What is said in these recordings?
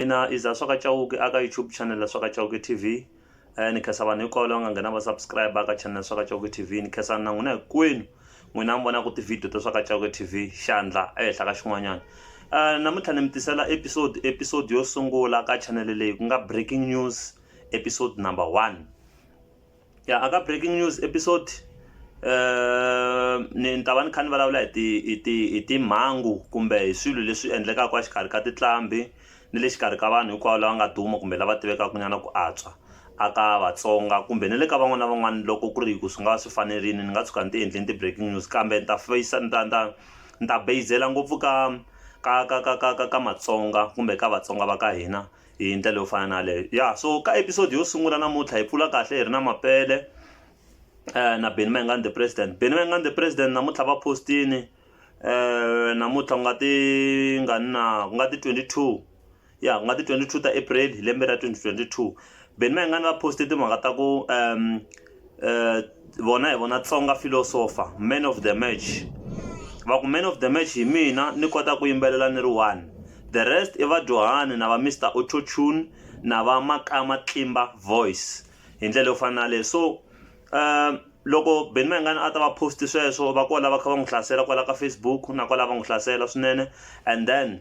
Ina i za swa ka Chauke a ka YouTube channel swa ka Chauke TV ni khensa vanhu hinkwavo lava nga nghena va subscribe ka channel swa ka Chauke TV ni khensani na n'wina hinkwenu n'wina mi vonaka ti-video ta swa ka Chauke TV xandla ehenhla ka xin'wanyana namuntlha ni mi tisela episode episode yo sungula ka channel leyi ku nga breaking news episode number one ya aka breaking news episode ni ni ta va ni kha ni vulavula hi ti hi ti hi timhangu kumbe hi swilo leswi endlekaka exikarhi ka tinqambi ni le xikarhi ka vanhu hinkwavo lava nga duma kumbe lava tivekaka nyana ku antswa a ka vatsonga kumbe ni le ka van'wana na van'wana loko ku ri hi ku swi nga va swi fanerile ni nga tshuka ni ti endleni ti-breaking news kambe ni ta feyisa ni ta ni ta ni ta beyizela ngopfu ka ka ka ka ka ka ka matsonga kumbe ka vatsonga va ka hina. hi ndlela yo fana na yaleyo ya so ka episode yo sungula namuntlha hi pfula kahle hi ri na mapele eh, na beni mayengani the president beni mayengani the president namuntlha va postini eh, namuntlha ku nga ti nga ni na ku nga ti 22 ya ku nga ti 22 ta april hi lembe ra 2022 beni mayengani va poste timhaka ta ku um eh, vona hi vona tsonga philosopher man of the match va ku man of the match hi mina ni kota ku yimbelela ni ri one the rest i vadyuhani na va mr autotune na va makama tlimba voice hi ndlela yo fana na leyi so um loko beni mayingani a ta va post sweswo va kola va kha va n'wi hlasela kwala ka facebook na kwala va n'wi hlasela swinene and then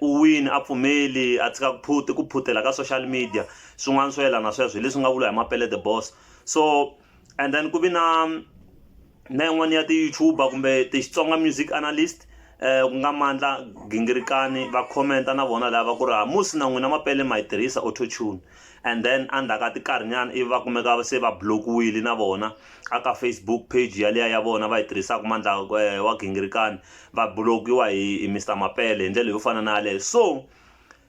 u wini a pfumeli a tshika ku phute ku phutela ka social media swin'wana swo yelana sweswo hi leswi nga vula hi mapele the boss so and then ku vi na na yin'wana ya ti-youtuber kumbe ti-Xitsonga music analyst ku nga mandla gingirikani va comment-a na vona lava ku ri ha musi na n'wina mapele ma yi tirhisa auto tune. and then endzhaku ka tinkarhinyana ivi va kumeka se va block-wile na vona a ka facebook page yaliya ya vona va yi tirhisaka mandla eh, wa gingirikani va block-iwa hi, hi mr mapele hi ndlela yo fana na yaleyo so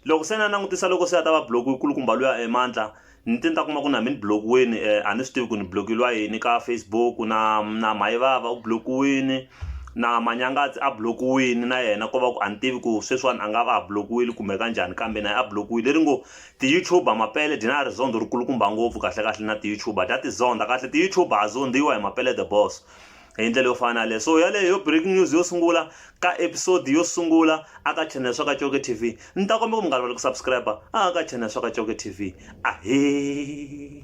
loko se na langutisa loko se a ta va block-iwe kulukumba luya emandla eh, ni te ni ta kuma ku na mi ni block-iweni um eh, a ni swi tivi ku ni block-iliwa yini ka facebook na na mayivava u block-iwini na manyangatsi a blokiwini na yena ko va ku a ni tivi ku sweswiwani a nga va a blokiwile kumbe ka njhani kambe naye a blokiwile leri ngo Ti-YouTuber Mapele dyi na rizondho ri kulukumba ngopfu kahle kahle na ti-YouTuber ta ti zondha kahle ti-YouTuber ha zondhiwa hi Mapele the boss hi ndlela yo fana na yaleyo so yaleyo yo breaking news yo sungula ka episode yo sungula a ka channel swa ka Coke TV ni ta kombela ku mi nga rivali ku subscribe a ka channel swa ka Coke TV ahee